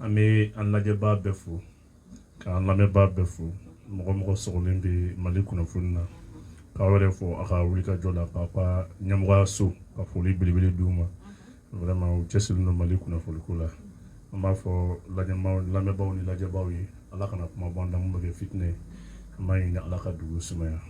an bɛ an lajɛbaa bɛɛ fo k'an lamɛnbaa bɛɛ fo mɔgɔ o mɔgɔ sɔgɔlen bɛ mali kunnafoni na k'aw yɛrɛ fo a ka wuli ka jɔ la k'a ka ɲɛmɔgɔya so ka foli belebele d'u ma vraiment u cɛsirilen don mali kunnafoniko la an b'a fɔ lamɛnbaaw ni lajɛbaaw ye ala kana kuma bɔ an da min bɛ kɛ fitinɛ ye an b'a ɲini ala ka dugu sumaya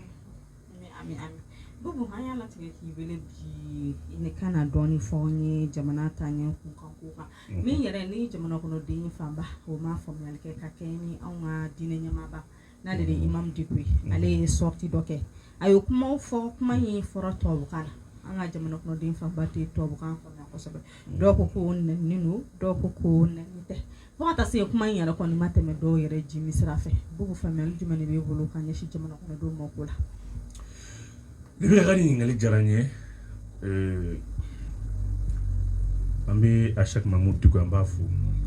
min yɛrɛ ni jamana kɔnɔ den fanba o ma faamuyali kɛ ka kɛ ni anw ka diinɛ ɲɛmaaba n'ale de ye imam Diko ye ale ye sortie dɔ kɛ a ye kumaw fɔ kuma in fɔra tubabukan na an ka jamana kɔnɔ den fanba tɛ tubabukan faamuya kosɛbɛ dɔw ko ko nɛni don dɔw ko ko nɛni tɛ fo ka taa se kuma in yɛrɛ kɔni ma tɛmɛ dɔw yɛrɛ jiminsira fɛ Bubu faamuyali jumɛn de b'e bolo ka ɲɛsin jamana kɔnɔ denw ma o ko la Ne bɛ ka ɲininkali diyara n ye an bɛ Acheikh Mamudu Diko an b'a fo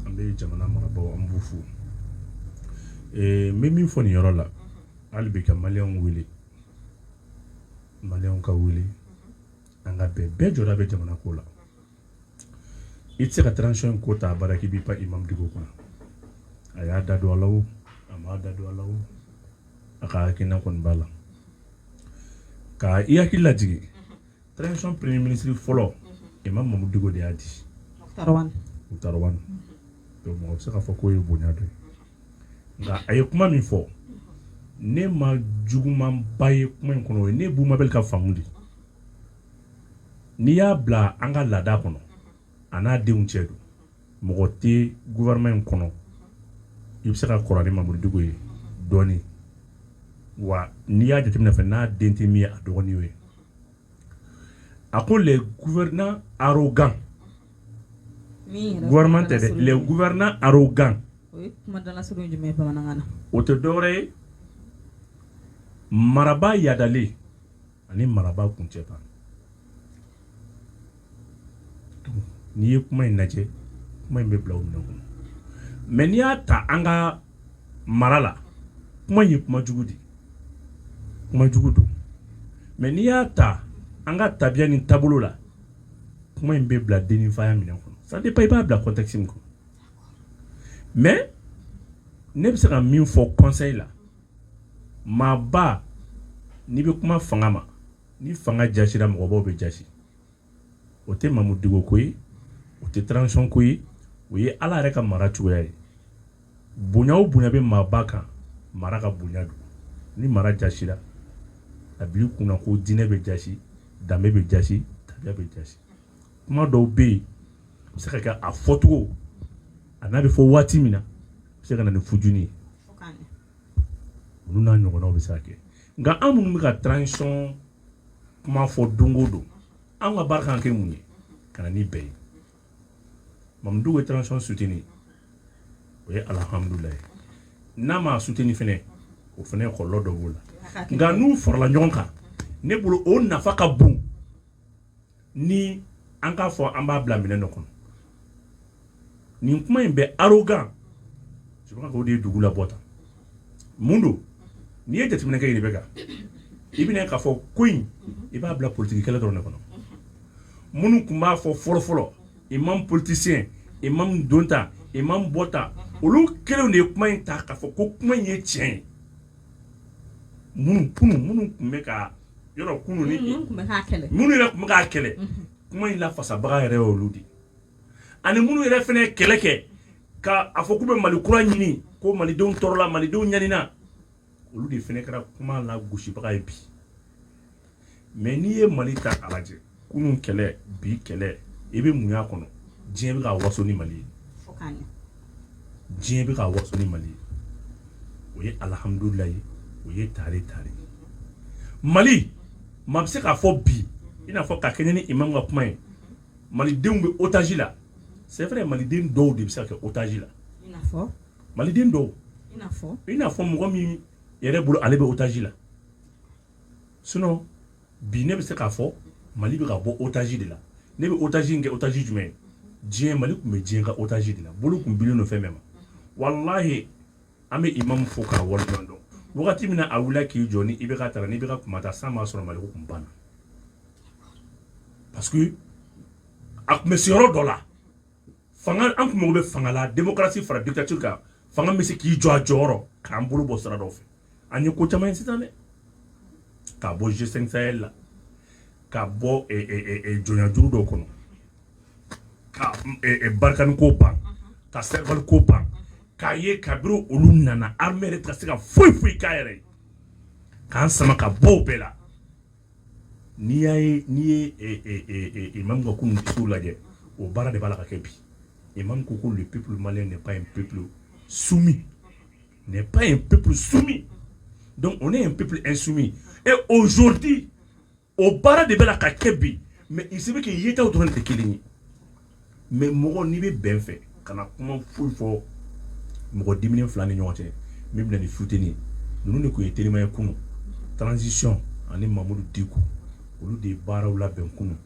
an bɛ jamana marabaaw an b'u fo n bɛ min fɔ nin yɔrɔ la hali bi ka maliyɛnw wele maliyɛnw ka wele an ka bɛn bɛɛ jɔda bɛ jamana ko la i tɛ se ka transition ko ta a baara k'i b'i pan imam Diko kunna a y'a da don a la o a m'a da don a la o a ka hakilina kɔni b'a la ka i hakili lajigi transition premier ministre fɔlɔ imam Mamudu Diko de y'a di Moctar Ouane donc mɔgɔ bɛ se k'a fɔ k'o ye bonya dɔ ye nka a ye kuma min fɔ ne ma juguman ba ye kuma in kɔnɔ o ye ne Bubu Mabel ka faamu de n'i y'a bila an ka laada kɔnɔ a n'a denw cɛ don mɔgɔ tɛ gouvernement in kɔnɔ i bɛ se ka kɔrɔ ni Mamudu Diko ye dɔɔnin wa n'i y'a jateminɛ fana n'a den tɛ min ye a dɔgɔnin y'o ye a ko les gouvernants arrogants min yɛrɛ gouvernement tɛ dɛ kumadalasurun les gouvernants arrogants o ye kumadalasurun jumɛn ye bamanankan na o tɛ dɔwɛrɛ ye marabaa yadalen ani marabaa kuncɛba n'i ye kuma in lajɛ kuma in bɛ bila o minɛn kɔnɔ mais n'i y'a ta an ka mara la kuma in ye kuma jugu de kuma jugu don mais n'i y'a ta an ka tabiya ni taabolo la kuma in bɛ bila dennifaya minɛn kɔnɔ ça dépend i b'a bila contexte min kɔnɔ mais ne bɛ se ka min fɔ conseil la maaba n'i bɛ kuma fanga ma ni fanga jasira mɔgɔbaw bɛ jasi o tɛ Mamudu Diko ko ye o tɛ transition ko ye o ye ala yɛrɛ ka mara cogoya ye bonya o bonya bɛ maaba kan mara ka bonya don ni mara jasira a b'i kunna ko diinɛ bɛ jasi danbe bɛ jasi tabiya bɛ jasi kuma dɔw bɛ yen a bɛ se ka kɛ a fɔcogo a n'a bɛ fɔ waati min na a bɛ se ka na ni fujuni ye olu n'a ɲɔgɔnnaw bɛ se ka kɛ nka an minnu bɛ ka transition kuma fɔ don o don an ka baara kan kɛ mun ye ka na ni bɛɛ ye mamudu bɛ transition suteni o ye alihamudulayi n'a ma suteni fɛnɛ o fɛnɛ kɔlɔlɔ dɔ b'o la nka n'u farala ɲɔgɔn kan ne bolo o nafa ka bon ni an k'a fɔ an b'a bila minɛn dɔ kɔnɔ nin kuma in bɛ arrogant je crois que o de ye dugu labɔ tan mun don n'i ye jateminɛ kɛ Rebecca i bɛna k'a fɔ ko in i b'a bila politigi kɛlɛ dɔrɔn de kɔnɔ minnu tun b'a fɔ fɔlɔfɔlɔ imam politisiyɛn imam donta imam bɔta olu kelenw de ye kuma in ta k'a fɔ ko kuma in ye tiɲɛ ye minnu kunun minnu tun bɛ ka yɔrɔ kunun ni minnu yɛrɛ tun bɛ k'a kɛlɛ kuma in lafasabaga yɛrɛ ye olu de ani minnu yɛrɛ fɛnɛ ye kɛlɛ kɛ ka a fɔ k'u bɛ Mali kura ɲini ko malidenw tɔɔrɔla malidenw ɲanina olu de fɛnɛ kɛra kuma lagosibaga ye bi mais n'i ye mali ta k'a lajɛ kunun kɛlɛ bi kɛlɛ i bɛ mun y'a kɔnɔ diɲɛ bɛ ka waso ni mali ye diɲɛ bɛ ka waso ni mali ye o ye alihamudulila ye o ye tare tare mali maa bɛ se k'a fɔ bi i n'a fɔ ka kɛɲɛ ni imam ka kuma ye malidenw bɛ otaji la c'est vrai maliden dɔw de bɛ se ka kɛ otaji la maliden dɔw i n'a fɔ mɔgɔ min yɛrɛ bolo ale bɛ otaji la bi ne bɛ se k'a fɔ mali bɛ ka bɔ otaji de la ne bɛ otaji in kɛ otaji jumɛn ye diɲɛ mali tun bɛ diɲɛ ka otaji de la bolo tun bilen don fɛn bɛɛ ma walahi an bɛ imamu fo k'a waleɲuman dɔn wagati min na a wulila k'i jɔ ni IBK taara n'IBK tun ma taa san b'a sɔrɔ mali ko tun banna parce a tun bɛ se yɔrɔ dɔ la fanga an tun mago bɛ fanga la démocratie fara dictature kan fanga bɛ se k'i jɔ a jɔyɔrɔ k'an bolo bɔ sira dɔw fɛ an ye ko caman ye sisan dɛ ka bɔ G5 Sahel la ka bɔ eh, eh, eh, jɔnyajuru dɔw kɔnɔ ka Barkhane ko ban ka serval ko ban k'a ye kabiri olu nana armée yɛrɛ tɛ ka se ka foyi foyi k'a yɛrɛ ye k'an sama ka bɔ o bɛɛ la n'i y'a ye n'i ye eh, eh, eh, imam ka kunun discours lajɛ o baara de b'a la ka kɛ bi imam ko ko le peuple malien n'est pas un peuple soumis n'est pas un peuple soumis donc on est un peuple insoumis et aujourd'hui o baara de b'a la ka kɛ bi mais il se peut que yetaw dɔrɔn de tɛ kelen ye mais mɔgɔ n'i bɛ bɛn fɛ kana kuma foyi fɔ mɔgɔ diminen fila ni ɲɔgɔn cɛ min bɛna ni futeni ninnu de tun ye terima ye kunun transition ani mamudu diko olu de ye baaraw labɛn kunun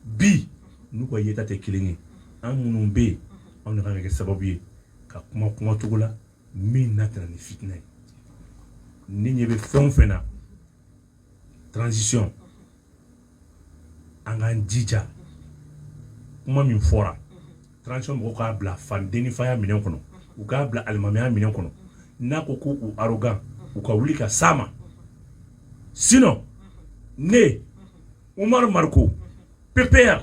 bi n'u ka yeta tɛ kelen ye an minnu bɛ yen anw de kan ka kɛ sababu ye ka kuma kumacogo la min n'a tɛna ni fitinɛ ye ni ɲɛ bɛ fɛn o fɛn na transition an k'an jija kuma min fɔra transition mɔgɔw k'a bila fandenfaya minɛn kɔnɔ u k'a bila alimamiya minɛn kɔnɔ n'a ko ko u arrogant u ka wuli ka s'a ma sinon ne umaru mariko ppr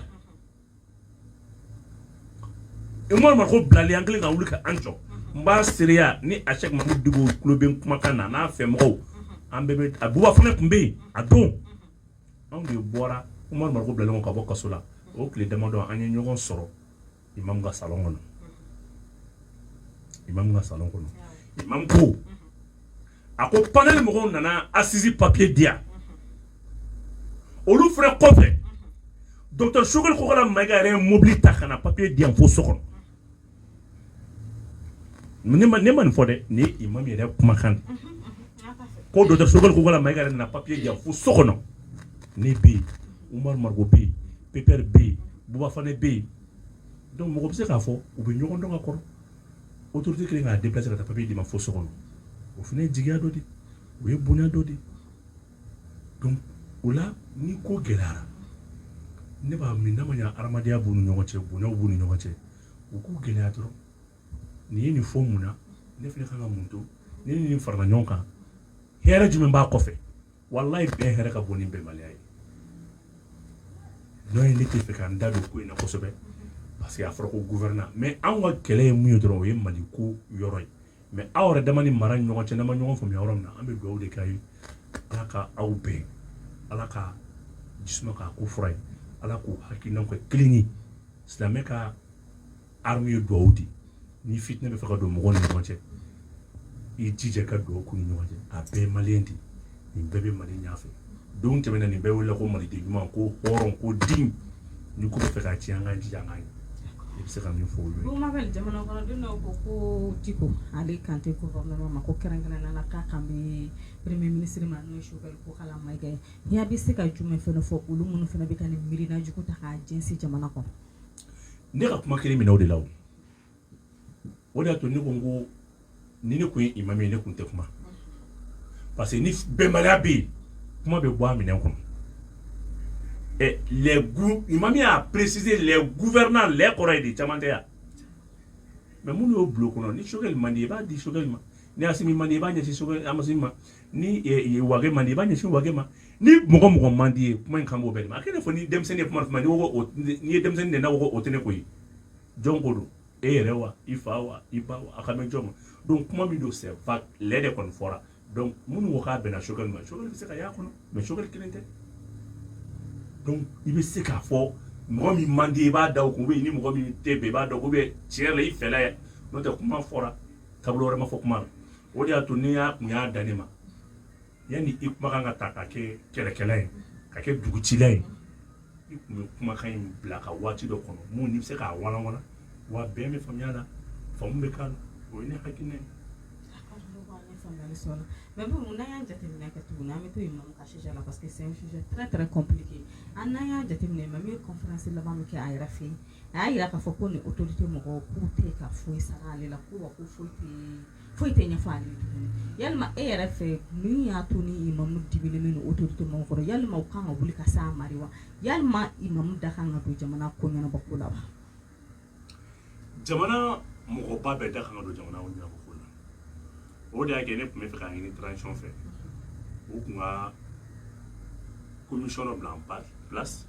umaru mariko bilali an kelen ka wuli ka an jɔ n b'a seereya ni a cheick mamudu diko tulo bɛ n kumakan na n'a fɛ mɔgɔw an bɛɛ a buba fane tun bɛ yen a don anw de bɔra umaru mariko bilalen ka bɔ kaso la o tile damadɔ an ye ɲɔgɔn sɔrɔ imamu ka salon kɔnɔ imamu ka salon kɔnɔ imamu ko a ko panel mɔgɔw nana assises papiye di yan olu fana kɔfɛ docteur sogɛli kokala mayiga yɛrɛ ye mobili ta ka na papiye di yan fo so kɔnɔ ne ma nin fɔ dɛ ni imamu yɛrɛ kumakan ko docteur sogɛli kokala mayiga yɛrɛ nana papiye di fo so kɔnɔ ne bɛ yen umaru mariko bɛ yen ppr bɛ yen buba fane bɛ yen donc mɔgɔ bɛ se k'a fɔ u bɛ ɲɔgɔn dɔn ka kɔrɔ autorité kelen k'a déplacer ka taa papiye d'i ma fo so kɔnɔ o fana ye jigiya dɔ de o ye bonya dɔ de donc o la ni ko gɛlɛyara ne b'a min n'a ma ɲa adamadenya b'u ni ɲɔgɔn cɛ bonyaw b'u ni ɲɔgɔn cɛ u k'u gɛlɛya dɔrɔn nin ye nin fɔ mun na ne fana kan ka mun to ne ni nin farala ɲɔgɔn kan hɛrɛ jumɛn b'a kɔfɛ walayi bɛn hɛrɛ ka bon ni bɛnbaliya ye dɔ ye ne tɛ fɛ ka n da don ko in na kosɛbɛ parce que a fɔra ko gouvernement anw ka kɛlɛ ye mun ye dɔrɔn o ye mali ko yɔrɔ ye mais aw yɛrɛ dama ni mara ni ɲɔgɔn cɛ n'an ma ɲɔgɔn faamuya yɔrɔ min na an bɛ dugawu de k'a ye ala ka aw bɛn ala ka jisuma k'a ko fura ye ala k'u hakilinaw kɛ kelen ye silamɛ ka arme ye duwawu de ni fitinɛ bɛ fɛ ka don mɔgɔw ni ɲɔgɔn cɛ i jija ka duwawu k'u ni ɲɔgɔn cɛ a bɛɛ ye maliyɛn de nin bɛɛ bɛ mali ɲɛfɛ don tɛmɛna nin bɛɛ wele ko maliden ɲuman ko hɔrɔn ko den ni ko bɛ fɛ ka tiɲɛ an k'an jija an k'a ɲɛ i bɛ se ka min fɔ olu ye bon ma bɛ jamana kɔnɔden dɔw ko ko diko ale kan tɛ ko gɔvɛrɛnama ma ko kɛrɛnkɛrɛnnenya la k'a kan bɛ premier ministre ma n'o ye sogɛli kokala mayiga ye n'i bɛ se ka jumɛn fana fɔ olu minnu fana bɛ ka nin miirina jugu ta k'a jɛnsi jamana kɔnɔ ne ka kuma kelen minɛ o de la o o de y'a to ne ko n ko ni ne tun ye imam ye ne tun tɛ kuma parce que ni bɛnbaliya bɛ yen kuma bɛ bɔ a minɛn kɔnɔ ɛ les gou imam y'a préciser les gouvernants les kɔrɔ ye de caman tɛ yan mais minnu y'o bulon kɔnɔ ni sogɛli man di i b'a di sogɛli ma ni asimi man di i b'a ɲɛsin sogɛli ma asimi ma ni wage man di i b'a ɲɛsin wage ma ni mɔgɔ o mɔgɔ man di i ye kuma in kan b'o bɛɛ de ma a kɛlen fɔ ni denmisɛnnin ye kuma kuma n'i ko n'i ye denmisɛnnin de n'a ko o tɛ ne ko ye jɔn ko don e yɛrɛ wa i fa wa i ba wa a kan bɛ jɔn ma donc kuma min don c'est vague les de kɔni fɔra donc minnu ko k'a bɛnna sogɛli ma sogɛli bɛ se ka y'a kɔnɔ mais sogɛli kelen tɛ donc i bɛ se k'a fɔ mɔgɔ min man di i b'a da o kun ou bien ni mɔgɔ min tɛ bɛn i b'a dɔn ou bien tiɲɛ yɛrɛ la i fɛla ye n'o tɛ kuma fɔra taabolo wɛrɛ ma fɔ kuma na o de y'a to ni y'a kun y'a dan ne ma yanni i kumakan ka ta ka kɛ kɛlɛkɛla ye ka kɛ dugutila ye i kun bɛ kumakan in bila ka waati dɔ kɔnɔ mun n'i bɛ se k'a walanwalan wa bɛn bɛ faamuya la faamu bɛ k'a la o ye ne hakilina ye mais bon n'an y'a jateminɛ kɛ tuguni an bɛ to imamu ka sujet la parce que c'est un sujet très très compliqué an n'an y'a jateminɛ imamu ye conférence laban min kɛ a yɛrɛ fɛ yen a y'a jira k'a fɔ ko nin autorité mɔgɔw k'u tɛ ka foyi sara ale la ko wa ko foyi tɛ foyi tɛ ɲɛfɔ ale ye tuguni yalima e yɛrɛ fɛ min y'a to ni imamu dimilen bɛ autorité mɔgɔw kɔrɔ yalima u kan ka wuli ka se a ma de wa yalima imamu da kan ka don jamana ko ɲɛnabɔ ko la wa jamana mɔgɔba bɛɛ da kan ka don jamana ko ɲɛnabɔ ko la o de y'a kɛ ne tun bɛ fɛ k'a ɲini transition fɛ u tun ka commission dɔ bila en place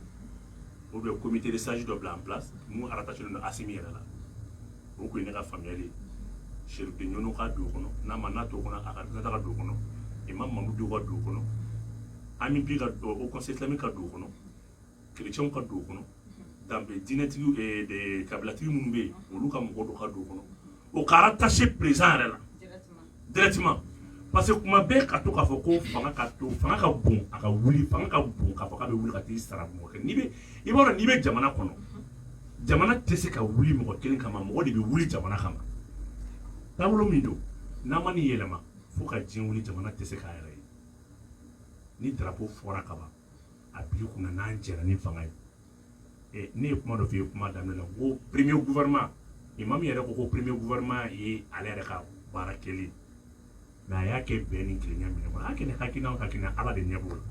ou bien comité de sage dɔ bila en place mun rattachélen don asimi yɛrɛ la o kun ye ne ka faamuyali de ye chérif de nioro ka don o kɔnɔ n'a ma n'a t'o kɔnɔ a ka représentant ka don o kɔnɔ imam mamudu ka don o kɔnɔ amupi ka haut conseil islamique ka don o kɔnɔ kerecɛnw ka don o kɔnɔ danbe diinɛtigi eh, kabilatigi minnu bɛ yen olu ka mɔgɔ dɔ ka don o kɔnɔ o ka rattaché président yɛrɛ la directement parce que kuma bɛɛ ka to k'a fɔ ko fanga ka to fanga ka bon a ka wuli fanga ka bon k'a fɔ k'a bɛ wuli ka t'i sara mɔgɔ kɛ n'i bɛ i b'a dɔn n'i bɛ jamana kɔnɔ jamana tɛ se ka wuli mɔgɔ kelen kama mɔgɔ de bɛ wuli jamana kama taabolo min don n'a ma nin yɛlɛma fo ka diɲɛ wuli jamana tɛ se k'a yɛrɛ ye ni darapo fɔra kaban a b'i kunna n'an jɛra ni fanga ye eh, ne ye kuma dɔ f'i ye kuma daminɛ la ko premier gouvernement imam yɛrɛ ko ko premier gouvernement ye ale yɛrɛ ka baara kɛlen mais a y'a kɛ bɛn ni kelenya minɛn kɔnɔ a y'a kɛ ni hakilina o hakilina ala de ɲɛ b'o la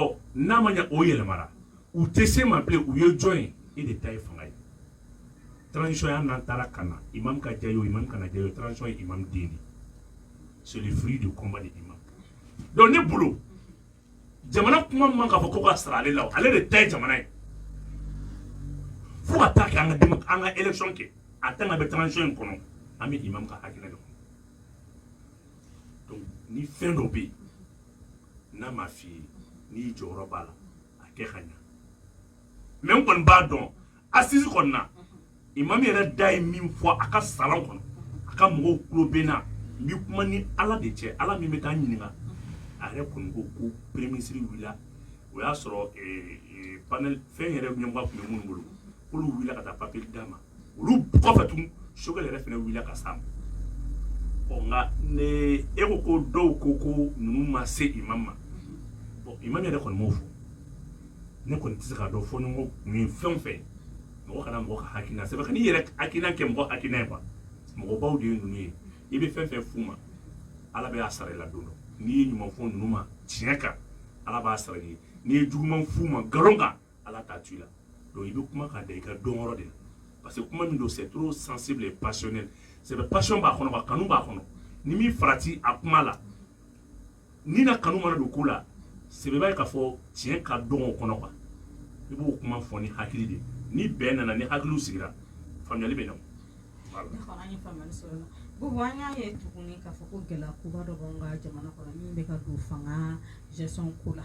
ɔ n'a ma ɲɛ o yɛlɛmara u tɛ se ma bilen u ye jɔn ye e de ta ye fanga ye transition yan n'an taara ka na imam ka diya ye o imam kana diya ye o transition ye imam den de c'est le fruit du combat de imam donc ne bolo jamana kuma man k'a fɔ ko ka sara ale la ale de ta ye jamana ye fo ka taa kɛ an ka an ka élection kɛ a tant qu'an bɛ transition in kɔnɔ an bɛ imam ka hakilina de kɔnɔ donc ni fɛn dɔ bɛ yen n'a ma f'i ye n'i jɔyɔrɔ b'a la a kɛ ka ɲa mais n kɔni b'a dɔn assise kɔnɔna imam yɛrɛ da ye min fɔ a ka salon kɔnɔ a ka mɔgɔw tulo bɛ n na n bɛ kuma ni ala de cɛ ala min bɛ taa ɲininka a yɛrɛ kɔni ko ko premier ministre wulila o y'a sɔrɔ eh, eh, panel fɛn yɛrɛ ɲɛmɔgɔ tun bɛ minnu bolo k'olu wulila ka taa papier d'a ma olu kɔfɛ tun Choguel yɛrɛ fana wulila ka s'a ma ɔ nka ne e ko ko dɔw ko ko ninnu ma se imam ma bon imam yɛrɛ kɔni m'o fɔ ne kɔni tɛ se k'a dɔn fo ni ko kun ye fɛn o fɛn mɔgɔ kana mɔgɔ ka hakilina sɛbɛn kan'i yɛrɛ hakilina kɛ mɔgɔ hakilina ye quoi mɔgɔbaw de ye ninnu ye i bɛ fɛn fɛn f'u ma ala bɛ a sara i la don dɔ n'i ye ɲuman fɔ ninnu ma tiɲɛ kan ala b'a sara i ye n'i ye juguman f'u ma nkalon kan ala t'a to i la donc i bɛ kuma k'a da i ka dɔnyɔrɔ de la parce que kuma min don c'est trop sensible et passionnel c'est passion b'a kɔnɔ wa kanu b'a kɔnɔ n'i m'i farati a kuma la ni na kanu mana don ko la sɛbɛba ye k'a fɔ tiɲɛ ka dɔgɔ o kɔnɔ quoi i b'o kuma fɔ ni hakili de ni bɛn nana ni hakiliw sigira faamuyali bɛ na Bubu an y'a ye tuguni k'a fɔ ko gɛlɛya koba dɔ b'an ka jamana kɔnɔ min bɛ ka don fanga gestion ko la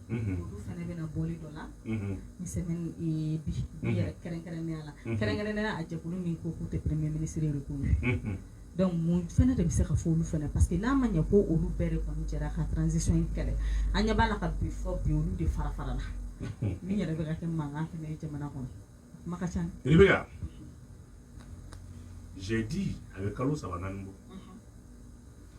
olu fana bɛnna bɔli dɔ la nin semaine bi yɛrɛ kɛrɛnkɛrɛnnenya la kɛrɛnkɛrɛnnenya a jɛkulu min ko k'u tɛ premier ministre reconnu donc mun fana de bɛ se ka fɔ olu fana parce que n'a ma ɲɛ ko olu bɛɛ de kɔni jɛra ka transition in kɛlɛ an ɲɛ b'a la ka bi fɔ bi olu de farafarala min yɛrɛ bɛ ka kɛ mankan fana ye jamana kɔnɔ kuma ka ca i bɛ k'a jate a bɛ kalo saba naani bɔ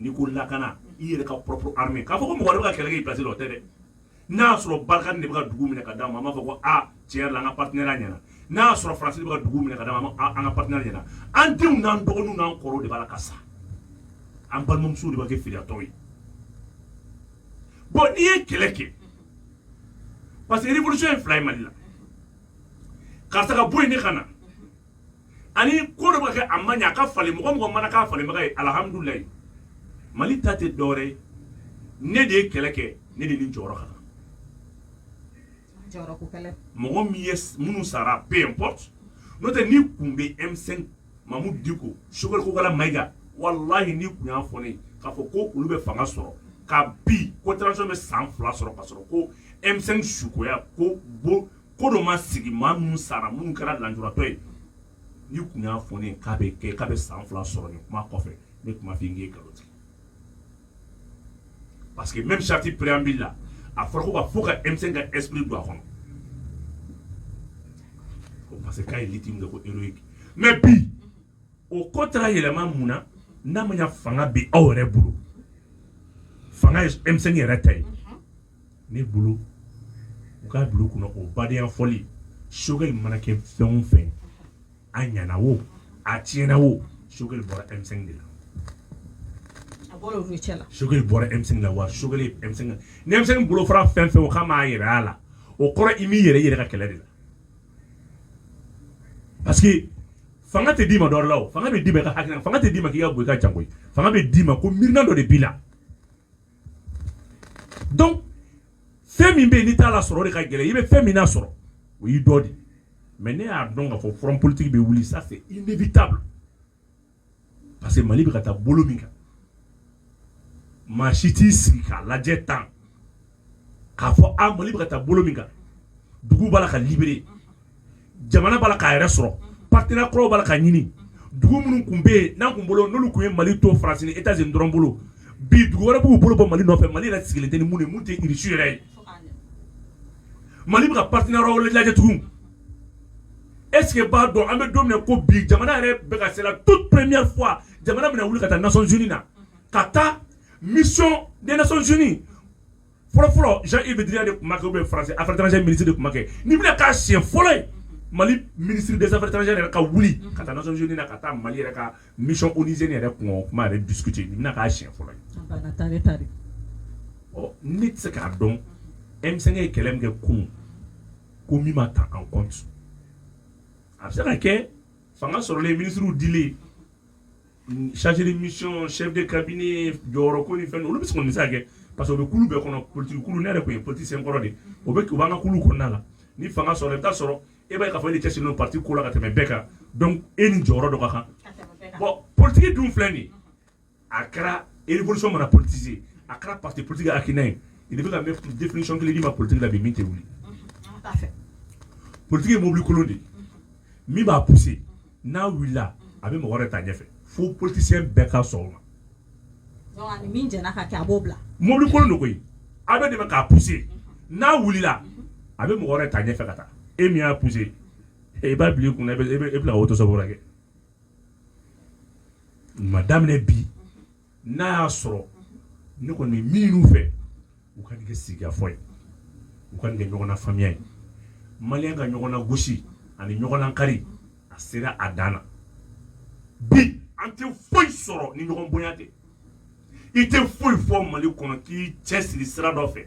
n'i ko lakana i yɛrɛ ka propre armée k'a fɔ ko mɔgɔ wɛrɛ bɛ ka kɛlɛ kɛ i place la o tɛ dɛ n'a y'a sɔrɔ Barkhane de bɛ ka dugu minɛ ka d'an ma an b'a fɔ ko a tiɲɛ yɛrɛ la an ka partenariat ɲɛna n'a y'a sɔrɔ France de bɛ ka dugu minɛ ka d'an ma an ka partenariat ɲɛna an denw n'an dɔgɔninw n'an kɔrɔw de b'a la ka sa an balimamusow de bɛ kɛ firiyatɔw ye bon n'i ye kɛlɛ kɛ parce que révolution ye fila ye Mali la karisa ka bɔ yen ne ka na ani ko dɔ bɛ ka kɛ a man ɲi a ka falen mɔgɔ o mɔgɔ mana k'a falenbaga ye alihamudulilayi Mali ta tɛ dɔwɛrɛ ye ne de ye kɛlɛ kɛ ne de ni jɔyɔrɔ ka kan mɔgɔ min ye minnu sara peu importe n'o tɛ ni kun bɛ M5 Mahmoud Dicko Choguel Kokalla Maïga walahi n'i kun y'a fɔ ne ye k'a fɔ ko olu bɛ fanga sɔrɔ ka bi ko transition bɛ san fila sɔrɔ ka sɔrɔ ko M5 sukoya ko bo ko dɔ ma sigi maa minnu sara minnu kɛra lanjuratɔ ye n'i tun y'a fɔ ne k'a bɛ kɛ k'a bɛ san fila sɔrɔ nin kuma kɔfɛ ne tun b'a fɔ k'i ye nkalon tigɛ parce que même charte préambule la a fɔra ko ka fo ka M5 ka esprit don a kɔnɔ ko parce que k'a ye lutte min kɛ ko héroïque mais bi o ko taara yɛlɛma mun na n'a ma ɲa fanga bɛ aw yɛrɛ bolo fanga ye M5 yɛrɛ ta ye. ne bolo u k'a bila u kunna o badenya fɔli Choguel mana kɛ fɛn o fɛn a ɲana wo a tiɲɛna wo Choguel bɔra M5 de la Choguel bɔra M5 la wa Choguel ni M5 bolo fara fɛn fɛn o k'a m'a yɛrɛ a la o kɔrɔ i m'i yɛrɛ yɛrɛ ka kɛlɛ de la parce que fanga tɛ d'i ma dɔrɔn la o fanga bɛ d'i ma i ka hakilina fanga tɛ d'i ma k'i ka bɔ i ka jango ye fanga bɛ d'i ma ko miirina dɔ de b'i la donc fɛn min bɛ yen n'i t'a la sɔrɔ o de ka gɛlɛn i bɛ fɛn min na sɔrɔ o y'i dɔ de ye mais ne y'a dɔn k'a fɔ front politique bɛ wuli ça c'est inévitable parce que Mali bɛ ka taa bolo min kan maa si t'i sigi k'a lajɛ tan k'a fɔ a Mali bɛ ka taa bolo min kan dugu b'a la ka libérer jamana b'a la k'a yɛrɛ sɔrɔ partenaire kuraw b'a la ka ɲini dugu minnu tun bɛ yen n'an tun bolo n'olu tun ye Mali to France ni Etats Unis dɔrɔn bolo bi dugu wɛrɛ b'u bolo bɔ Mali nɔfɛ Mali yɛrɛ sigilen tɛ ni minnu ye minnu tɛ Russie yɛrɛ ye Mali bɛ ka partenaire wɛrɛw lajɛ tugun est ce que e b'a dɔn an bɛ don min na ko bi jamana yɛrɛ bɛ ka c'est la toute première fois jamana bɛna wuli ka taa Nations Unies na ka taa mission des Nations Unies fɔlɔfɔlɔ Jean-Yves Le Drian de tun b'a kɛ ou bien France affaires étrangères ministre de tun b'a kɛ nin bɛna k'a siɲɛ fɔlɔ ye mali ministre des affaires étrangères yɛrɛ ka wuli ka taa nations unies na ka taa mali yɛrɛ ka mission onusienne yɛrɛ kun o kuma yɛrɛ discuter nin bɛna k'a siɲɛ fɔlɔ ye ɔ ne tɛ se k'a dɔn M5 ye kɛlɛ min kɛ kunun ko min ma ta en compte a bɛ se ka kɛ fanga sɔrɔlen minisiriw dilen chargé de mission chef de cabinet jɔyɔrɔ ko ni fɛn olu bɛ se ka kɛ parce que o bɛ kulu bɛɛ kɔnɔ politigi kulu ne yɛrɛ tun ye politicien kɔrɔ de o bɛ u b'an ka kulu kɔnɔna la ni fanga sɔrɔ i t'a sɔrɔ e b'a ye k'a fɔ e de cɛsirilen don parti ko la ka tɛmɛ bɛɛ kan donc e ni jɔyɔrɔ dɔ ka kan bon politigi dun filɛ de a kɛra révolution mana politiser a kɛra parti politigi hakilina ye i bɛ ka définition kelen d'i ma politigi la bi min tɛ wuli politigi ye mobili kolon de ye min b'a pousser n'a wulila a bɛ mɔgɔ wɛrɛ ta ɲɛfɛ fo politisiyɛn bɛɛ ka sɔn o ma Donc, ani min jɛna ka kɛ a b'o bila mobili kolon de koyi a bɛ dɛmɛ k'a pousser n'a wulila a bɛ mɔgɔ wɛrɛ ta ɲɛfɛ ka taa e min y'a pousser e, i b'a bila i kunna i bɛ- i bɛ- i bɛna auto-stop kɛ o ma daminɛ bi n'a y'a sɔrɔ ne kɔni bɛ min ɲini u fɛ u ka nin kɛ sigikafɔ ye u ka nin kɛ ɲɔgɔnna faamuya ye maliyɛn ka ɲɔgɔn lagosi ani ɲɔgɔn lakari a sera a dan na bi an tɛ foyi sɔrɔ ni ɲɔgɔn bonya tɛ i tɛ foyi fɔ mali kɔnɔ k'i cɛsiri sira dɔ fɛ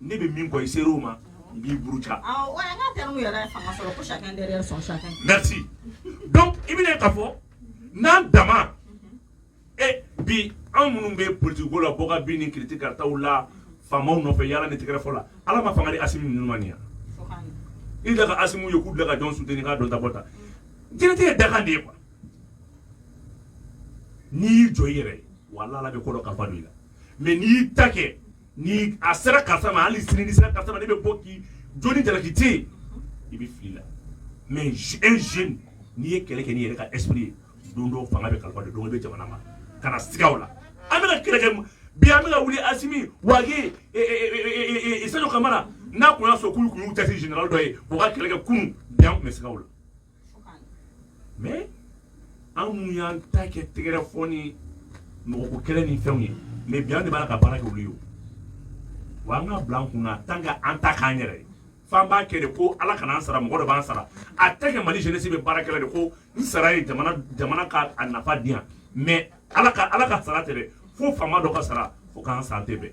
ne bɛ min kɔ i ser'o ma n b'i buruja awɔ an ka terme yɛrɛ ye fanga sɔrɔ ko chacun derrière son chacun merci donc i bɛna ye k'a fɔ n'an dama e bi anw minnu bɛ politique ko la bɔ ka bin ni kiriti karataw la faamaw nɔfɛ yaala ni tɛgɛrɛ fɔ la ala ma fanga di asimi ninnu ma nin ya fo k'a ɲɛ i da ka asimi ye k'u bila ka jɔn soutenir k'a dɔn ta bɔ ta diɲɛtigɛ ye dakan de ye quoi n'i y'i jɔ i yɛrɛ ye wala ala bɛ ko dɔ kalifa don i la mais n'i y'i ta kɛ ni a sera karisa ma hali sini ni sera karisa ma ne bɛ bɔ k'i jɔ ni jalaki tɛ yen i bɛ fili la mais un jeune n'i ye kɛlɛ kɛ n'i yɛrɛ ka esprit ye don dɔ fanga bɛ kalifa de don bɛ jamana ma kana siga u la an bɛna kɛlɛ kɛ bi an bɛna wuli asimi wage sadio kamara n'a kun y'a sɔrɔ k'u kun y'u cɛsiri général dɔ ye u ka kɛlɛ kɛ kunun bi an tun bɛ siga u la mais an minnu y'an ta kɛ tɛgɛrɛ fɔ ni mɔgɔko kɛlɛ ni fɛnw ye mais bi an de b'a la ka baara kɛ olu ye wa an ka bila an kun na tant que an t'a k'an yɛrɛ ye f'an b'a kɛ de ko ala kana an sara mɔgɔ dɔ b'an sara a tɛ kɛ mali jeunesse bɛ baara kɛla de ko n sara ye jamana jamana ka a nafa di yan mais ala ka ala ka sara tɛ dɛ fo faama dɔ ka sara fo k'an sara tɛ bɛn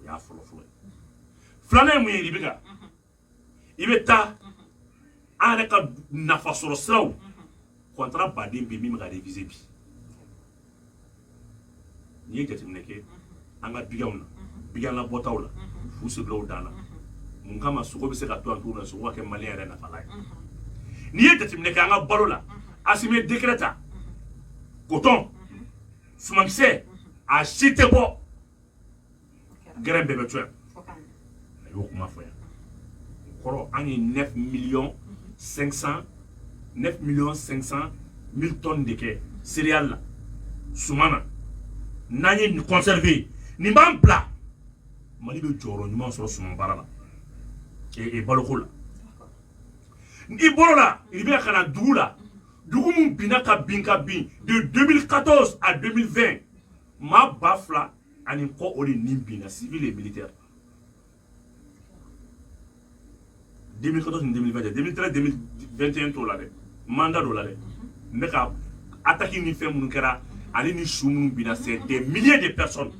o y'a fɔlɔ fɔlɔ ye filanan ye mun ye i bɛ ka i bɛ taa an yɛrɛ ka nafa sɔrɔ siraw contrat baden bɛ min bɛ ka réviser bi n'i ye jateminɛ kɛ an ka biganw na bigan labɔtaw la fu sirila u dan na mun kama sogo bɛ se ka to an t'o la sogo ka kɛ mali yɛrɛ nafa la ye n'i ye jateminɛ kɛ an ka balo la asimi ye décret ta coton sumankisɛ a si tɛ bɔ graine bɛɛ bɛ to yan a y'o kuma fɔ yan o kɔrɔ an ye 9 millions 500 9 millions 500 mille tonnes de kɛ céréales la suman na n'an ye nin conserver nin b'an bila mali bɛ jɔyɔrɔ ɲuman sɔrɔ suman baara la e, e baloko la i bɔr'o la i bɛ ka na dugu la dugu min binna ka bin ka bin de 2014 à 2020 maa ba fila ani kɔ o de nin binna civil et militaire 2014 ni 2020 2013 2021 t'o la dɛ mandat dɔ la dɛ ibk attaque ni fɛn minnu kɛra ale ni su minnu binna c'est des milliers de personnes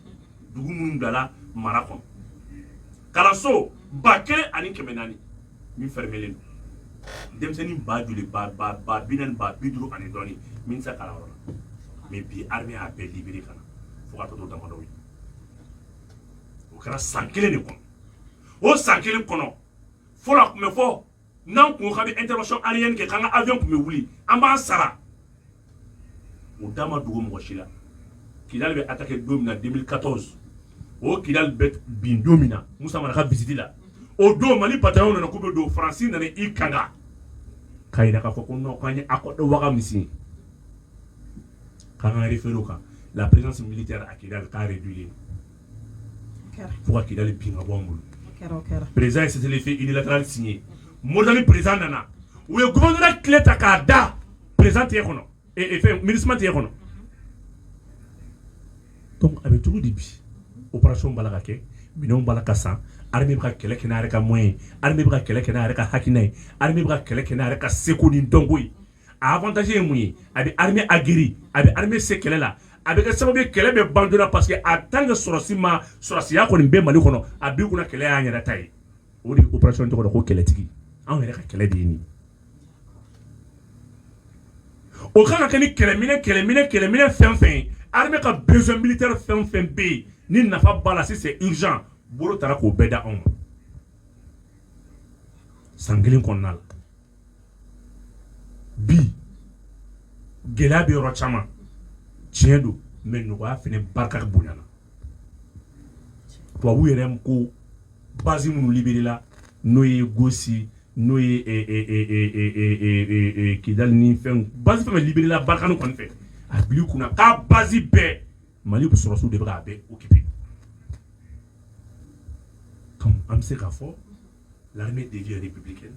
dugu minnu bilala mara kɔnɔ kalanso ba kelen ani kɛmɛ naani min fɛrɛmɛlen don denmisɛnnin ba joli ba ba ba bi naani ba bi duuru ani dɔɔni min tɛ se kalan yɔrɔ la mais bi armée y'a bɛɛ libéré ka na fo ka tɔ to damadɔw ye o kɛra san kelen de kɔnɔ o san kelen kɔnɔ fɔlɔ a tun bɛ fɔ n'an kun ko k'an bɛ intervention aérienne kɛ k'an ka avion tun bɛ wuli an b'an sara o da ma dogo mɔgɔ si la kidali bɛ attaqué don min na 2014 o kidali bɛ bin don min na musa mara ka visite la o don mali bataillon nana k'u bɛ don faransi nana i kanga k'a jira k'a fɔ ko non k'an ye accord de ouaga min signé k'an ka référé o kan la présence militaire à kidali k'a réduit fo ka kidali bin ka bɔ n bolo perez ye sefin i latali sin ye mori ni perez nana u ye gda tile ta k'a da perez tɛ kɔnɔ mini tɛ kɔnɔ a bɛ cogo de bi o kɛra bala ka kɛ minɛn bala ka san ka kɛlɛ kɛnɛ ka mɔ ye bɛ ka kɛlɛ kɛnɛ ka hakiina ye bɛ ka kɛlɛ kɛnɛ ka segu ni dɔnko ye a avantage ye mun ye a bɛ armée aguerri a bɛ armée se kɛlɛ la a bɛ kɛ sababu ye kɛlɛ bɛ ban joona parce que en tant que sɔrɔsi ma sɔrɔsiya kɔni bɛ Mali kɔnɔ a b'i kunna kɛlɛ y'an yɛrɛ ta ye o de ye opération tɔgɔ la ko kɛlɛtigi anw yɛrɛ ka kɛlɛ de ye nin o kan ka kɛ ni kɛlɛminɛ kɛlɛminɛ kɛlɛminɛ fɛn fɛn ye armée ka besoin militaire fɛn fɛn bɛ yen ni nafa b'a la si c'est urgent bolo tara k'o bɛɛ da anw ma san kelen kɔnɔna la bi gɛlɛya bɛ yɔrɔ caman tiɲɛ don mais nɔgɔya fana barika bonyana tubabu yɛrɛ ko base minnu libéréla n'o ye gosi n'o ye kidali ni fɛn base fɛn libéréla barkhane kɔni fɛ a bil'i kunna k'a base bɛɛ mali sɔrɔsiw de bɛ k'a bɛɛ occupé an bɛ se k'a fɔ l'armée devient républicaine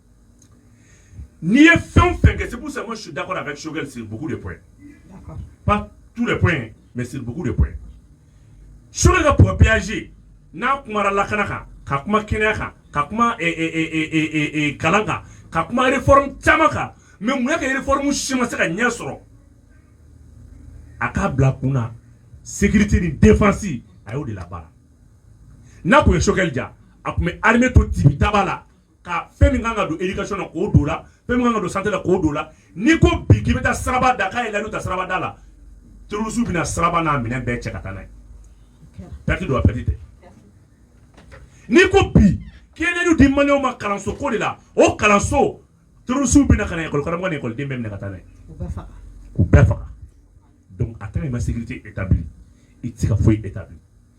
n'i ye fɛn fɛn kɛ sebugu sama su da kɔnɔ a ka sokɛ siribugu de pɔ pa tu de pɔ mɛ siribugu de pɔ sokɛ ka p pyaze n'a kuma lakana kan ka kuma kɛnɛya kan ka kuma kalan kan ka kuma f caman kan mɛ munna kɛ f si ma se ka ɲɛ sɔrɔ a k'a bila kun na segti ni denfasi a y'o de la baara n'a tun ye sokɛkɛ ja a tun bɛ hame to tibitaba la ka fɛn min kan ka don éducation na k'o don o la, fɛn min kan ka don santé la k'o don o la, n'i ko bi k'i bɛ taa siraba da k'i ye layidu ta siraba da la terroriste bɛna siraba n'a minɛn bɛɛ cɛ ka taa n'a ye perte don wa perte tɛ n'i ko bi k'i ye layidu di maliyɛnw ma kalanso ko de la o kalanso terroriste bɛ na ka na école karamɔgɔ ni école den bɛɛ minɛ ka taa n'a ye k'u bɛɛ faga donc a tant que i ma sécurité établie i tɛ se ka foyi établir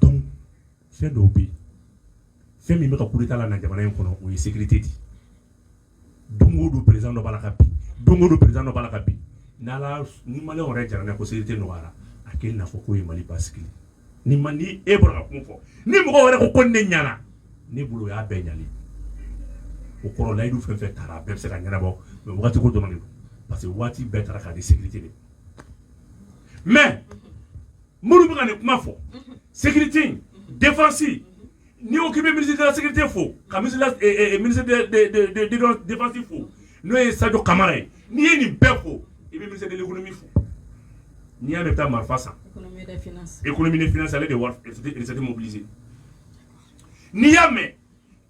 Donc fɛn dɔw bɛ yen, fɛn min bɛ ka coup d'Etat lana jamana in kɔnɔ o ye sécurité de ye. Don o don président dɔ b'a la ka bin, don o don président dɔ b'a la ka bin. Ni Ala y'a ni maliyɛnw yɛrɛ jɛra n'a ye ko sécurité nɔgɔyara, a kɛ i n'a fɔ k'o ye Mali basigi ye. Ni ma ni e bɔra ka kuma o fɔ, ni mɔgɔ wɛrɛ ko ko nin de ɲɛna, ne bolo o y'a bɛɛ ɲɛnen ye. O kɔrɔ layidu fɛn o fɛn tara, a bɛɛ bɛ se ka ɲɛnabɔ mais waati ko dɔrɔn de don parce que waati bɛɛ tara k'a di sécurité de ma mais Mori bɛ ka nin kuma fɔ sete defasi n'i ko k'i bɛ minisida sete fo ka misi defasi fo n'o ye sa kamara ye n'i ye nin bɛɛ fo i bɛ misi delikolonmi fo n'i y'a bɛ taa marifa sa e kɔni minɛ fsali de warite mobilise n'i y'a mɛn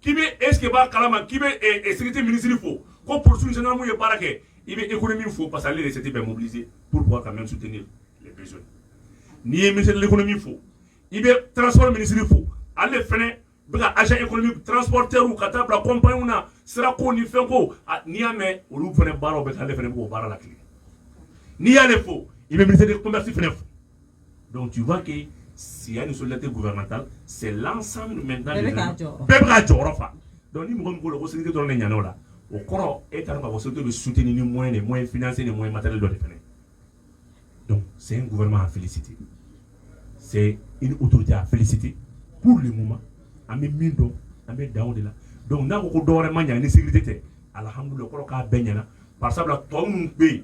k'i bɛ est ce que b'a kalama k'i bɛ eh, eh, sécurité ministre fo ko police gendarmew ye baara kɛ i bɛ économie fo parce que ale de bɛ recettes bɛɛ mobiliser pour pouvoir quand même soutenir les besoins n'i ye ministre de l'économie fo i bɛ transport ministre fo ale fɛnɛ bɛ ka agent économique transporteurs ka taa bila compagnie na sirako ni fɛnko n'i y'a mɛn olu fɛnɛ baaraw bɛ kɛ ale fɛnɛ bɛ k'o baara latilen n'i y'ale fo i bɛ ministre de commerce fɛnɛ fo Donc tu vois que s'il y a une solidarité gouvernementale, c'est l'ensemble maintenant. Bɛɛ bɛ k'a jɔyɔrɔ. Bɛɛ bɛ k'a jɔyɔrɔ fa. Donc ni mɔgɔ min ko la ko sécurité dɔrɔn de ɲana o la, o kɔrɔ e t'a dɔn k'a fɔ sécurité bɛ soutenir ni moyen de, moyen financier ni moyen matériel dɔ de fana. Donc c'est un gouvernement à féliciter. C'est une autorité à féliciter pour le moment. An bɛ min dɔn, an bɛ dan o de la. Donc n'a ko ko dɔ wɛrɛ ma ɲa ni sécurité tɛ, alhamdoulilahi o kɔrɔ k'a bɛɛ ɲana. Barisa o la tɔ minnu bɛ yen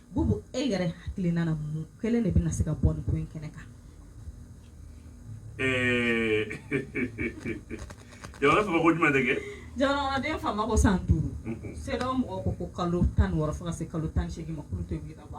Bubu e yɛrɛ hakilina na mun kelen de bɛna se k'an bɔ ko in kɛnɛ kan jamana fɔ ko jumɛn de kɛ jamana kɔnɔ den fanba ko san duuru CEDEAO mɔgɔw ko ko kalo tan wɔɔrɔ fo ka se kalo tan seegin ma tɛ ka bɔ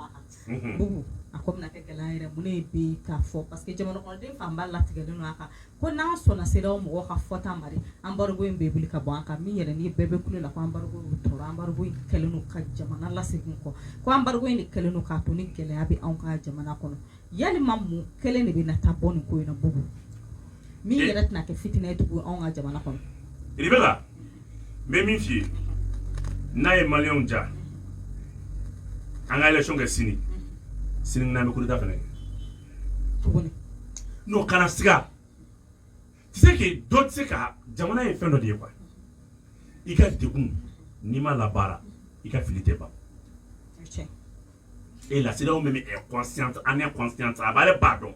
Bubu a ko bɛna kɛ gɛlɛya yɛrɛ mun ye bi k'a fɔ parce que jamana kɔnɔ den fanba latigɛ don a kan ko n'an sɔnna CEDEAO mɔgɔw ka fɔta ma embargo in bɛ wuli ka bɔ an kan min yɛrɛ ni bɛɛ bɛ kule la ko embargo tora embargo in kɛlen ka jamana lasegin kɔ ko embargo in de kɛlen ka to ni gɛlɛya bɛ an ka jamana kɔnɔ yali mun kelen de bɛna taa an bɔ nin ko in na Bubu min yɛrɛ tɛna kɛ fitinɛ ye tugu an ka jamana kɔnɔ i bɛ la bɛ min f'i ye n'a ye maliyɛnw ja an ka élection kɛ sini sini bɛ kuruda fana n'o kana siga tɛ se k'i dɔ tɛ se ka jamana ye fɛn dɔ de ye kuwa i ka dekun n'i ma labaara i ka fili tɛ ban e lasiw min bɛ kɔsɔn an kɔsɔn a b'ale ba dɔn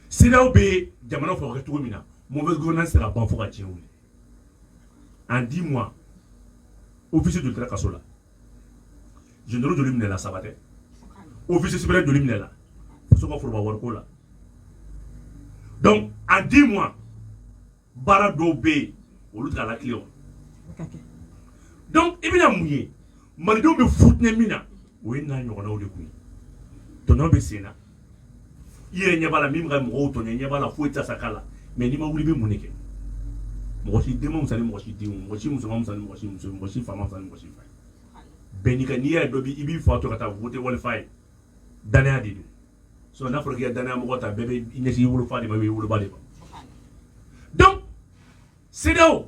siraw bɛ jamana fɔ kɛ cogo min na mɔ bɛ gna sera ban fo ka cɛ wuli an di ma ofisi don kɛra kaso la général joli minɛla saba tɛ officier supérieur joli minɛla muso ka foroba wariko la donc en dix mois baara dɔw bɛ yen olu tɛ ka lakali o donc i bɛna mun ye malidenw bɛ fitinɛ min na o ye n'a ɲɔgɔnnaw de kun ye tɔɲɔ bɛ sen na i yɛrɛ ɲɛ b'a la min bɛ ka mɔgɔw tɔɲɔ i ɲɛ b'a la foyi tɛ se k'a la mais n'i ma wuli i bɛ mun de kɛ mɔgɔ si den ma fisa ni mɔgɔ si den mɔgɔ si muso ma fisa ni mɔgɔ si muso mɔgɔ si fa ma fisa ni mɔgɔ si fa ye bɛɛ n'i ka n'i yɛrɛ dɔ b'i i b'i fa to ka taa voter walifa ye danaya de don sinon n'a fɔra k'i ka danaya mɔgɔ ta bɛɛ bɛ i ɲɛsin i wolofa de ma i bɛ i woloba de ma donc CEDEAO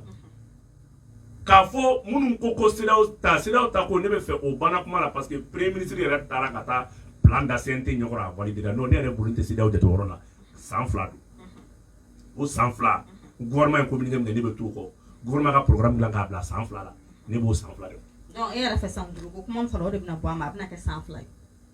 k'a fɔ minnu ko ko CEDEAO ta CEDEAO ta ko ne bɛ fɛ o banna kuma la parce que premier ministre yɛrɛ taara ka taa plan da CNT ɲɛ kɔrɔ a valider la n'o tɛ ne yɛrɛ bolo n tɛ CEDEAO jate o yɔrɔ la san fila don o san fila gouvernement ye communiqué min kɛ ne bɛ t'o kɔ gouvernement ka programme dilan k'a bila san fila la ne b'o san fila de kɔnɔ. Donc e yɛrɛ fɛ san duuru ko kuma min fɔra o de bɛna bɔ a ma a bɛna kɛ san fila ye.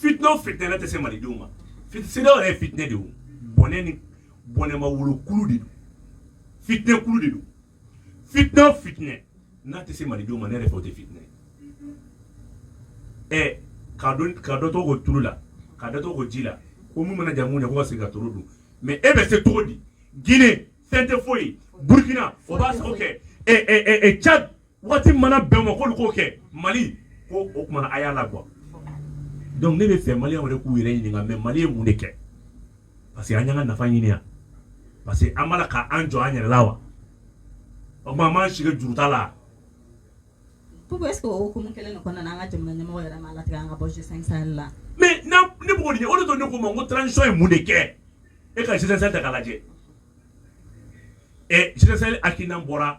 fitinɛ o fitinɛ n'a tɛ se malidenw ma CEDEAO yɛrɛ ye fitinɛ de ye o bɔnɛ ni bɔnɛma wolokulu de don fitinɛ kulu de don fitinɛ o fitinɛ n'a tɛ se malidenw ma ne yɛrɛ fɛ o tɛ fitinɛ ye ɛ ka dɔ ka dɔ to ko tulu la ka dɔ to ko ji la ko mun mana ja mun na ko ka segin ka toro dun mais e bɛ se cogo di Guinée fɛn tɛ foyi Burkina o b'a sago kɛ ɛ ɛ ɛ Tchad waati mana bɛn ma k'olu k'o kɛ mali ko o tuma a y'a la kuwa donc ne bɛ fɛ maliyɛnw yɛrɛ k'u yɛrɛ ɲininka mais mali ye mun de kɛ parce que an y'an ka nafa ɲini yan parce que an b'a la k'an jɔ an yɛrɛ la wa o tuma an b'an sigi juruta la Pourquoi est-ce que o hukumu kelen de kɔnɔna na an ka jamana ɲɛmɔgɔ yɛrɛ m'a latigɛ an ka bɔ G5 Sahel la mais n'a ne b'o de ɲɛ o de to ne ko ma ko transition ye mun de kɛ e ka G5 Sahel ta k'a lajɛ ɛ G5 Sahel hakilina bɔra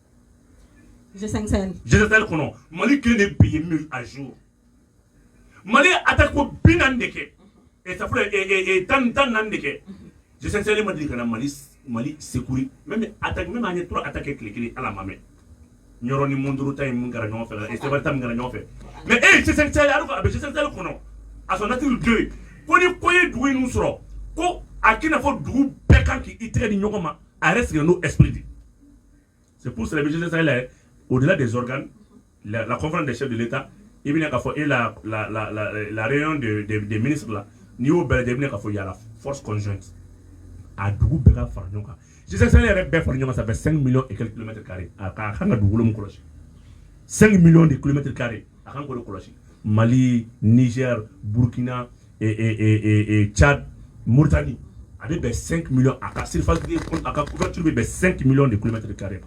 G5 Sahel kɔnɔ mali kelen de bi min à jour mali attaque ko bi naani de kɛ e tan tan naani de kɛ G5 Sahel ma deli ka na mali mali secourir mais attaque même an ye trois attaques tile kelen ala ma mɛ Nyɔrɔ ni Mondoro ta ye mun kɛra ɲɔgɔn fɛ e saba tan kɛra ɲɔgɔn fɛ mais G5 Sahel a bɛ G5 Sahel kɔnɔ à son article deux ko ni ko ye dugu in sɔrɔ ko a k'i n'a fɔ dugu bɛɛ kan k' i tɛgɛ di ɲɔgɔn ma a yɛrɛ sigi n'o esprit de c'est pour cela que G5 Sahel au-delà des organes la, la conférence des chefs de l'État i bɛna k'a fɔ e la la la la la réunion de de des ministres la n'i y'o bɛɛ lajɛ i bɛna k'a fɔ il y a la force conjointe a dugu bɛɛ ka fara ɲɔgɔn kan G5 Sahel yɛrɛ bɛɛ fara ɲɔgɔn kan ça fait 5 millions et quelques kilomètres carrés a ka kan ka dugukolo min kɔlɔsi 5 millions de kilomètres carrés a kan k'o de kɔlɔsi Mali Niger Burkina ca mutali a bɛ bɛn sen mi a ka sefati a ka kuti bɛ bɛn sen mi de kumatɛ kari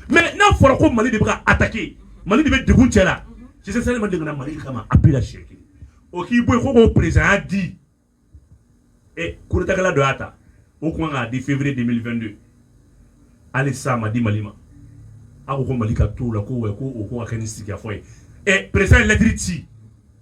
mɛ n'a fɔra ko mali de bɛ a taki mali de bɛ dugu cɛ la si seli ma de mali kama a bɛ si o k'i bɔ ko k'o perezya di ɛ kota don y'a ta o tuma k'a di febere de mili2 don hali sa ma di mali ma aw ko mali ka t la ko ko kɛ ni sigifɔ ye ɛ perez lɛttiriri ci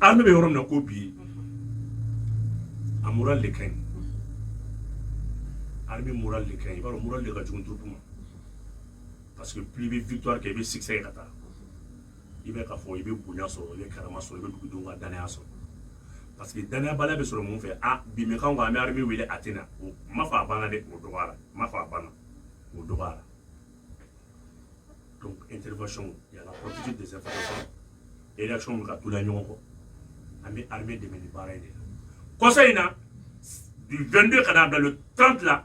An bɛ yɔrɔ min ko bi a mura de ka ɲi an bɛ mura de ka i b'a mura de ka jugu duuru ma parce que p bɛ vtura kɛ i bɛ sigisɛ ka taa i bɛ ka fɔ i bɛ bonya sɔrɔ i bɛ karama sɔrɔ i bɛ dugudenw ka danaya sɔrɔ parce que danayabaliya bɛ sɔrɔ mun fɛ a b'i mɛ k'an bɛ armée wele a tɛ na o ma fɔ a banna dɛ o dɔgɔyara ma fɔ a banna o dɔgɔyara donc intervention il y a la politique des informations et réaction bɛ ka tugu ɲɔgɔn kɔ an bɛ armée dɛmɛ ni baara in de la kɔsa in na du 22 ka n'a bila le 30 la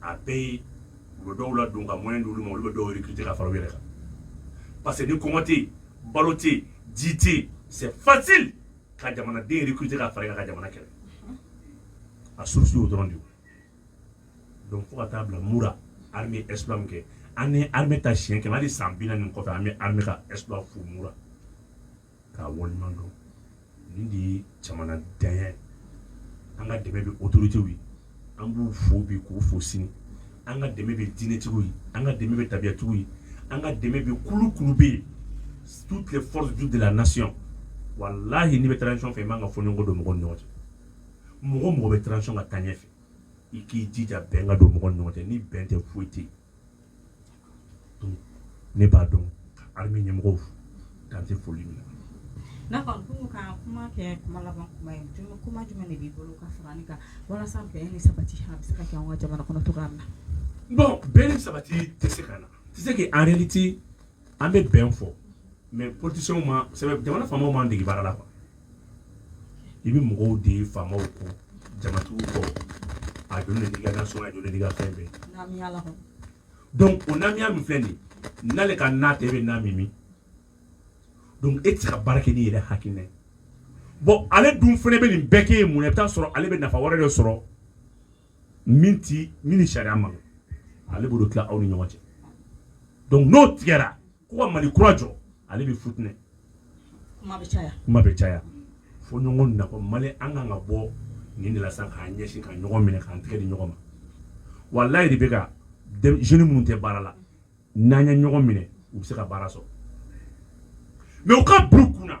a bɛɛ ye u bɛ dɔw ladon ka moyen d'olu ma olu bɛ dɔw recruter ka fara u yɛrɛ kan parce que ni kɔngɔ tɛ yen balo tɛ yen ji tɛ yen c'est facile ka jamanaden recruter ka fara i kan ka jamana kɛlɛ a source y'o dɔrɔn de ye donc fo ka taa bila Moura armée ye exploit min kɛ an ye armée ta siɲɛ kɛmɛ hali san bi naani nin kɔfɛ an bɛ armée ka exploit fo Moura k'a waleɲuman dɔn nin de ye jamana danya an ka dɛmɛ bɛ autoritéw ye an b'u fo bi k'u fo sini an ka dɛmɛ bɛ diinɛtigiw ye an ka dɛmɛ bɛ tabiyatigiw ye an ka dɛmɛ bɛ kulu kulu bɛ yen toutes les forces vives de la nation wallahi n'i bɛ transition fɛ i man kan ka fɔɲɔgɔnkɔ don mɔgɔw ni ɲɔgɔn cɛ mɔgɔ mɔgɔ bɛ transition ka taa ɲɛ fɛ i k'i jija bɛn ka don mɔgɔw ni ɲɔgɔn cɛ ni bɛn tɛ foyi tɛ yen ne b'a dɔn armée ɲɛmɔgɔw dan tɛ foli min na. D'accord, pour ka kuma kɛ kuma laban kuma ye jumɛn kuma jumɛn de b'i bolo ka fara nin kan walasa bɛn ni sabati a bɛ se ka kɛ an ka jamana kɔnɔ cogoya min na. Bon bɛn ni sabati tɛ se ka na c'est que en réalité an bɛ bɛn fɔ mais politicienw ma jamana faamaw m'an dege baara la quoi i bɛ mɔgɔw de ye faamaw kɔ jamatigiw kɔ a joli de ka so a joli de ka fɛn bɛɛ donc o namiya min filɛ nin n'ale ka n'a tɛ bɛ n'a min donc e tɛ se ka baara kɛ n'i yɛrɛ hakilina ye bon ale dun fana bɛ nin bɛɛ kɛ ye mun na i bɛ t'a sɔrɔ ale bɛ nafa wɛrɛ de sɔrɔ min tɛ min ni sariya ma ale b'o de tila aw ni ɲɔgɔn cɛ donc n'o tigɛra ko ka mali kura jɔ ale bɛ futinɛ kuma bɛ caya kuma bɛ caya fo ɲɔgɔn na ko mali an kan ka bɔ nin de la sisan k'an ɲɛsin ka ɲɔgɔn minɛ k'an tigɛ di ɲɔgɔn ma walayi de bɛ ka jeunes minnu tɛ baara la n'an ye ɲɔgɔn minɛ u bɛ se ka baara sɔrɔ mais u ka bila u kun na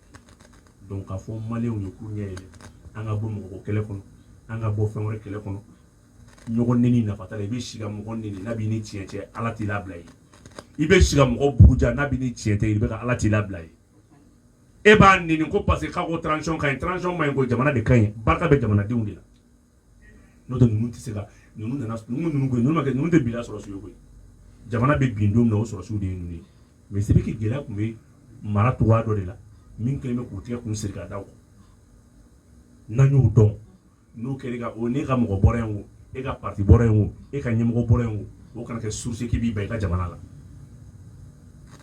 k'a fɔ maliyɛnw ye k'u ɲɛ yɛlɛ an ka bɔ mɔgɔ kɛlɛ kɔnɔ an ka bɔ fɛn wɛrɛ kɛlɛ kɔnɔ ɲɔgɔn neni nafa t'a la i bɛ si ka mɔgɔ neni n'a b'i ni tiɲɛ cɛ ala t'i labila ye i bɛ si ka mɔgɔ buruja n'a b'i ni tiɲɛ tɛ i bɛ ka ala t'i labila ye e b'a neni ko parce que k'a ko transition ka ɲi transition ma ɲi ko jamana de ka ɲi barika bɛ jamanadenw de la n'o tɛ ninnu tɛ se ka ninnu nana ninnu ninnu koyi ninnu ma kɛ ninnu tɛ bila sɔrɔsiw ye koyi jamana bɛ bin don min na o sɔrɔsiw de ye ninnu ye mais c'est vrai que gɛlɛya tun bɛ mara cogoya dɔ de la min kɛlen bɛ k'u tigɛ k'u siri ka da o kan n'an y'o dɔn n'o kɛra ka o n'e ka mɔgɔ bɔra yen o e ka parti bɔra yen o e ka ɲɛmɔgɔ bɔra yen o o kana kɛ source k'i b'i ban i ka jamana la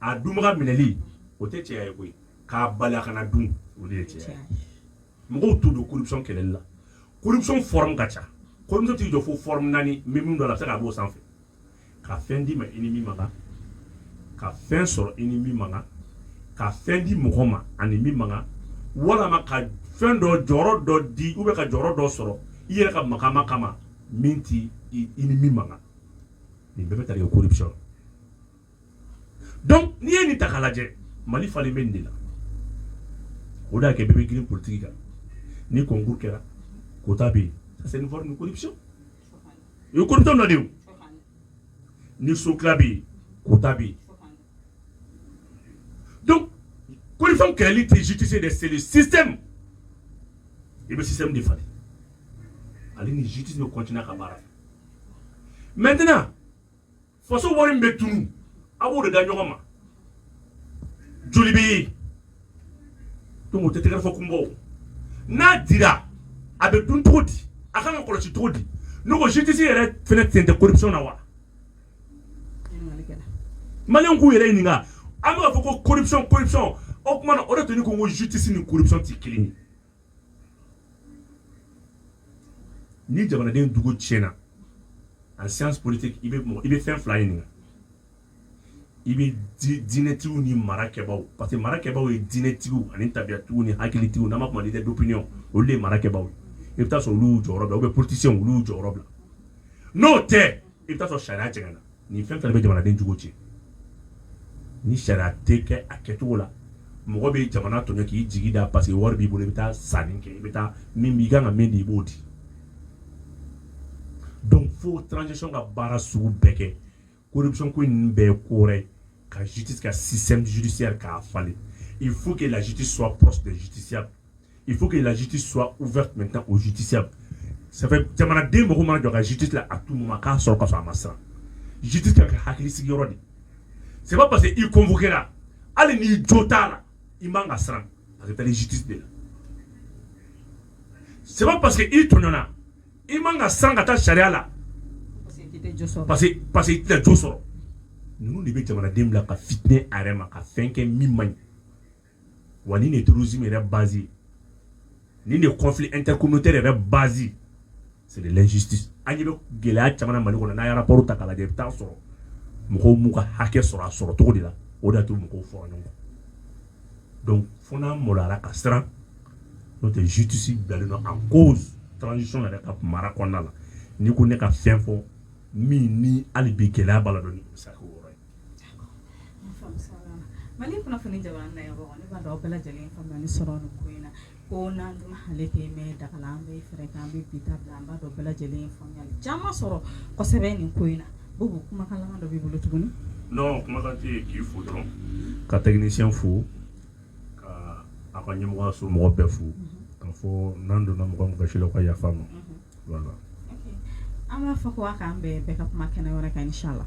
a dunbaga minɛli o tɛ cɛya ye koyi k'a bali a kana dun o de ye cɛya ye mɔgɔw t'u don corruption kɛlɛli la corruption forme ka ca corruption t'i jɔ fo forme naani n bɛ min dɔn a la a bɛ se ka b'o sanfɛ ka fɛn d'i ma i ni min man kan ka fɛn sɔrɔ i ni min man kan ka fɛn di mɔgɔ ma ani min man kan walama ka fɛn dɔ jɔyɔrɔ dɔ di ou bien ka jɔyɔrɔ dɔ sɔrɔ i yɛrɛ ka makama kama min ti i ni min man kan nin bɛɛ bɛ tali kɛ corruption donc n'i ye nin ta k'a lajɛ mali falen bɛ nin de la o de y'a kɛ bɛɛ bɛ girin politiki kan ni concours kɛra quota bɛ yen ça c'est une forme de corruption o ye corruption dɔ de ye o ni so tila bɛ yen quota bɛ yen donc corruption kɛlɛli tɛ justice dɛ c'est le système i bɛ système de falen ale ni justice bɛ continuer ka baara kɛ maintenant faso wari min bɛ tunu a b'o de da ɲɔgɔn ma joli bɛ yen donc o tɛ tɛgɛrɛ fɔ kun bɔ n'a dira a bɛ dun cogo di a kan ka kɔlɔsi cogo di ne ko justice yɛrɛ fɛnɛ sen tɛ corruption na wa maliyɛnw k'u yɛrɛ ɲininka an bɛ k'a fɔ ko corruption corruption o tuma na o de tun ni ko n ko justice ni corruption tɛ kelen ye ni jamanaden jogo tiɲɛna en science politique i bɛ mɔgɔ i bɛ fɛn fila ɲininka i bɛ di diinɛtigiw ni mara kɛbaaw parce que mara kɛbaaw ye diinɛtigiw ani tabiyatigiw ni hakilitigiw n'an b'a f'u ma leader d'opinion olu de ye mara kɛbaaw ye i bɛ taa sɔrɔ olu y'u jɔyɔrɔ bila ou bien politiciens olu y'u jɔyɔrɔ bila n'o tɛ i bɛ taa sɔrɔ sariya jɛngɛnna nin fɛn fɛn bɛ jamanaden jogo tiɲɛ ni sariya tɛ kɛ a kɛcogo la mɔgɔ bɛ jamana tɔɲɔ k'i jigi da parce que wari b'i bolo i bɛ taa sanni kɛ i bɛ taa min b'i kan ka min di i b'o di donc fo transition ka baara sugu bɛɛ kɛ corruption ko in bɛɛ ye ko wɛrɛ ye ka justice ka système judiciaire k'a falen il faut que la justice soit proche des justiciables il faut que la justice soit ouverte maintenant aux justiciables ça fait jamanaden mɔgɔ mana jɔ ka justice la à tout moment k'a sɔrɔ ka sɔrɔ a ma siran justice ka kɛ hakili sigiyɔrɔ de c'est pas parce que i convoqué la hali n'i jo t'a la i man ka siran parce que taa ni justice de la c'est pas parce que i tɔɲɔna i man ka siran ka taa sariya la parce que parce que i tɛna jo sɔrɔ ninnu de bɛ jamanaden bila ka fitinɛ a yɛrɛ ma ka fɛn kɛ min man ɲi wa nin de ye terrorisme yɛrɛ base ye nin de ye conflit intercommunautaire yɛrɛ base ye c'est de l'injustice an ɲɛ bɛ gɛlɛya caman na mali kɔnɔ n'a ye rapport ta k'a lajɛ i bɛ taa sɔrɔ mɔgɔw m'u ka hakɛ sɔrɔ a sɔrɔ cogo de la o de y'a to mɔgɔw fɔra ɲɔgɔn kɔ donc fo n'an maloyara ka siran n'o tɛ justice bilalen don en cause transition yɛrɛ ka mara kɔnɔna la n'i ko ne ka fɛn fɔ min ni hali bi gɛlɛya b'a la dɔɔni sa Mali kunnafoni jamana na yɔrɔ ne b'a dɔn aw bɛɛ lajɛlen faamuyali sɔrɔ nin ko in na ko nan duman ale tɛ mɛn daga la an bɛ fɛɛrɛ kɛ an bɛ bi ta bila an b'a dɔn bɛɛ lajɛlen faamuya caman sɔrɔ kosɛbɛ nin ko in na ko kumakan dɔ b'i bolo tuguni non kuma tɛ yen k'i fo dɔrɔn ka technicien fo ka a ka ɲɛmɔgɔso mɔgɔ bɛɛ fo k'a fɔ n'an donna mɔgɔ mɔgɔ gasi la o ka yafa an ma an b'a fɔ ko k'an bɛn an ka kuma kɛnɛ wɛrɛ kan inchallah